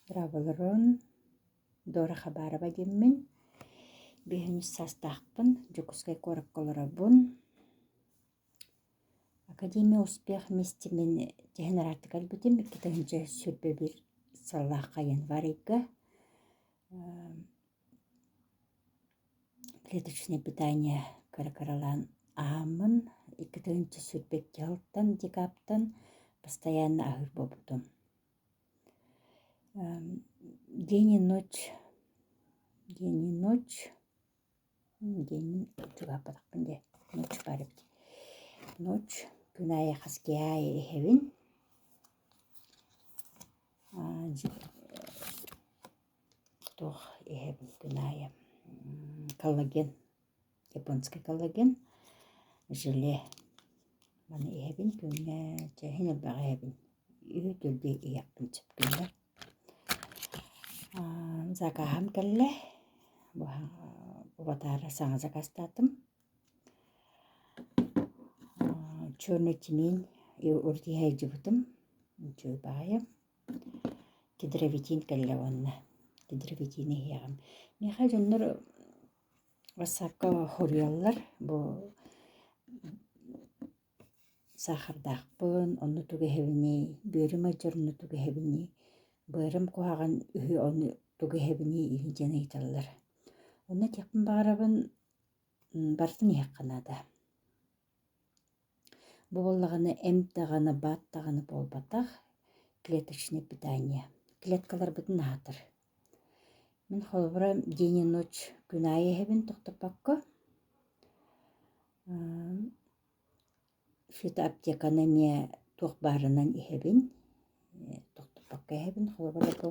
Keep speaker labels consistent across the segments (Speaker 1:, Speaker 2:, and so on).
Speaker 1: Роболорун Дора Хабарова диэммин, биһинч саастаахпын, Дьокуускай куоракка олоробун. Академия успех мистимин тэһэн араартык кэлбитим икки тыһыынча сүүрбэ биир сыллаахха январыйга клеточное питание кыра-кыралаан аһааммын икки тыһыынча сүүрбэ икки сылтан декабртан постоянно аһыыр буолбутум. день и ночь день и ночь день отчугааппатахпын дии ночь баар эбит ночь күн аайы хас киһи аайы иһэбин туох иһэбин күн аайы коллаген японский галоген желе маны иһэбин күҥҥэ чэһин элбэҕи иһэбин үһүтүрдүү иһиэхпин сөп гынна закаһым кэллэ бутаары саҥа закастаатым черный тимень уртиһайдьыбытым үчүгэй баҕайым кедровитин кэллэ уонна кедровитины иһиэҕим миэхэ дьоннор Ватсапка хоруйаллар бу саахардаахпын онно тугэһэбиний бүөрүм алдьар онно тугэһэбиний быарым куһаҕан үһү ону тугэһэбиний диэн ыйыталлар онно этиэхпин баҕарабын барытын иһиэххэ наада Бу буоллаҕына эмп даҕаны, баат даҕаны буолбатах клеточное питание. Клеткаларбытын аһатар. Мин холобура день и ночь күн аайы иһэбин тохтоппокко. Что-то аптеканы эмиэ туох баарынан иһэбин. Тохтоппокко иһэбин. Холобура бу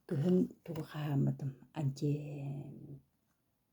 Speaker 1: кыһын тугу хаһааммытым анти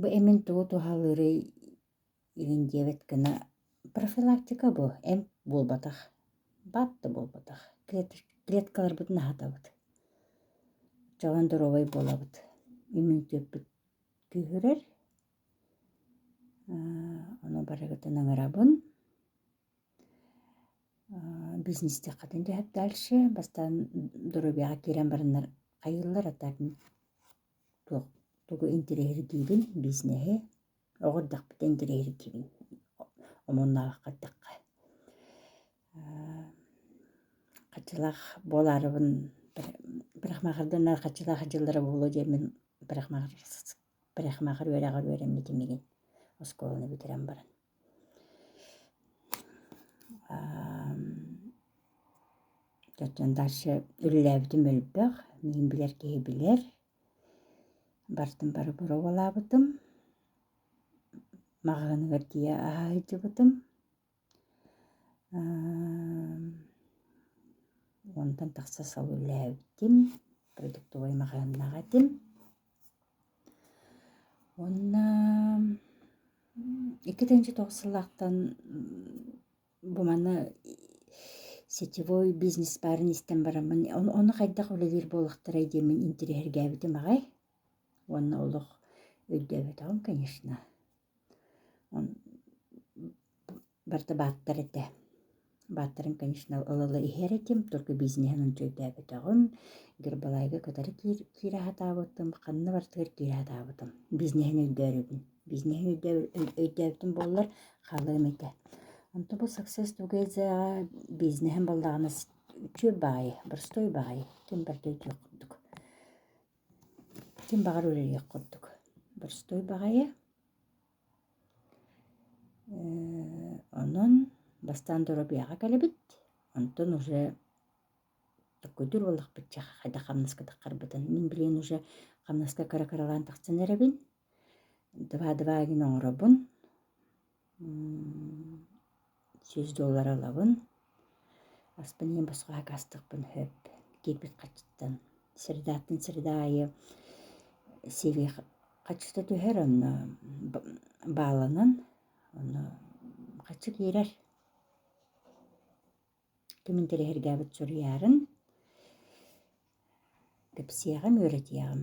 Speaker 1: Бу эмин тугу туһалыырый игин диэбэт гына профилактика бу эмп буолбатах баап да буолбатах клеткаларбытын аһатабыт чоҕон доруобай буолабыт иммунитетпут күүһүрэр ону барыгытын ыҥырабын бизнести хатын түһэп дальше бастаан доруобуйаҕа киирэн бараннар хайыыллара так туох тугу интириэһиргиибин бизнеһи оҕо эрдэхпитэ интириэһиргиибин омуннаабакка эттэххэ хаччылаах буолаарыбын бырахмаахарданар хаччылаах дьыллара буолуо диэммин бырахмаахар бырахмаахар үөрэҕэр үөрэммитим игин оскуоланы бүтэрэн баран Кэргэн дальше үлэлээбитим элбэх, мин билэр киһи билэр. Бартын бары боруобалаабытым. Маҕаһыыныгар тиийэ аһа сылдьыбытым. Онтон тахса сыл үлэлээбитим, продуктовай маҕаһыыннаах этим. Уонна икки тыһыынча туох сыллаахтан бу маны сетевой бизнес баарын истэн бараммын ону хайдах үлэлиир буоллахтарай диэммин интириэһиргээбитим аҕай уонна олох өйдөөбөтөҕүм конечно барыта бааттар этэ. Бааттарын, конечно, ыла-ыла иһэр этим, только бизнеһин өйдөөбөтөҕүм. Гербалайга кытары киир, киирэ сатаабытым, ханна барытыгар киирэ сатаабытым. Бизнеһин өйдөөбөбүн. Бизнеһин өйдөөбүтүм буоллар, хаалыам этэ. Онто бу Success Together бизнеһин баллаҕана үтүө баҕайы, боростуой баҕайы, ким барыта өйдүөх курдук. Ким баҕар үлэлиэх курдук. Боростуой баҕайы, Онон бастаан доруобуйаҕа кэлэбит, онтон уже такойдуур буоллахпытча хайдах хамнаскатаххарбытын мин билигин уже хамнаска кыра-кыралаан тахсан эрэбин. Два-два гын оҥоробун. сүүс доллара ылабын аспын иһин босхо акаастыахпын сөп киирбит хаччыттан средааттан среда аайы сири хаччыта түһэр онно бааланан онно хаччы киирэр кимин тэлэһиргээбит суруйаарын кэпсиэҕим үөрэтиэҕим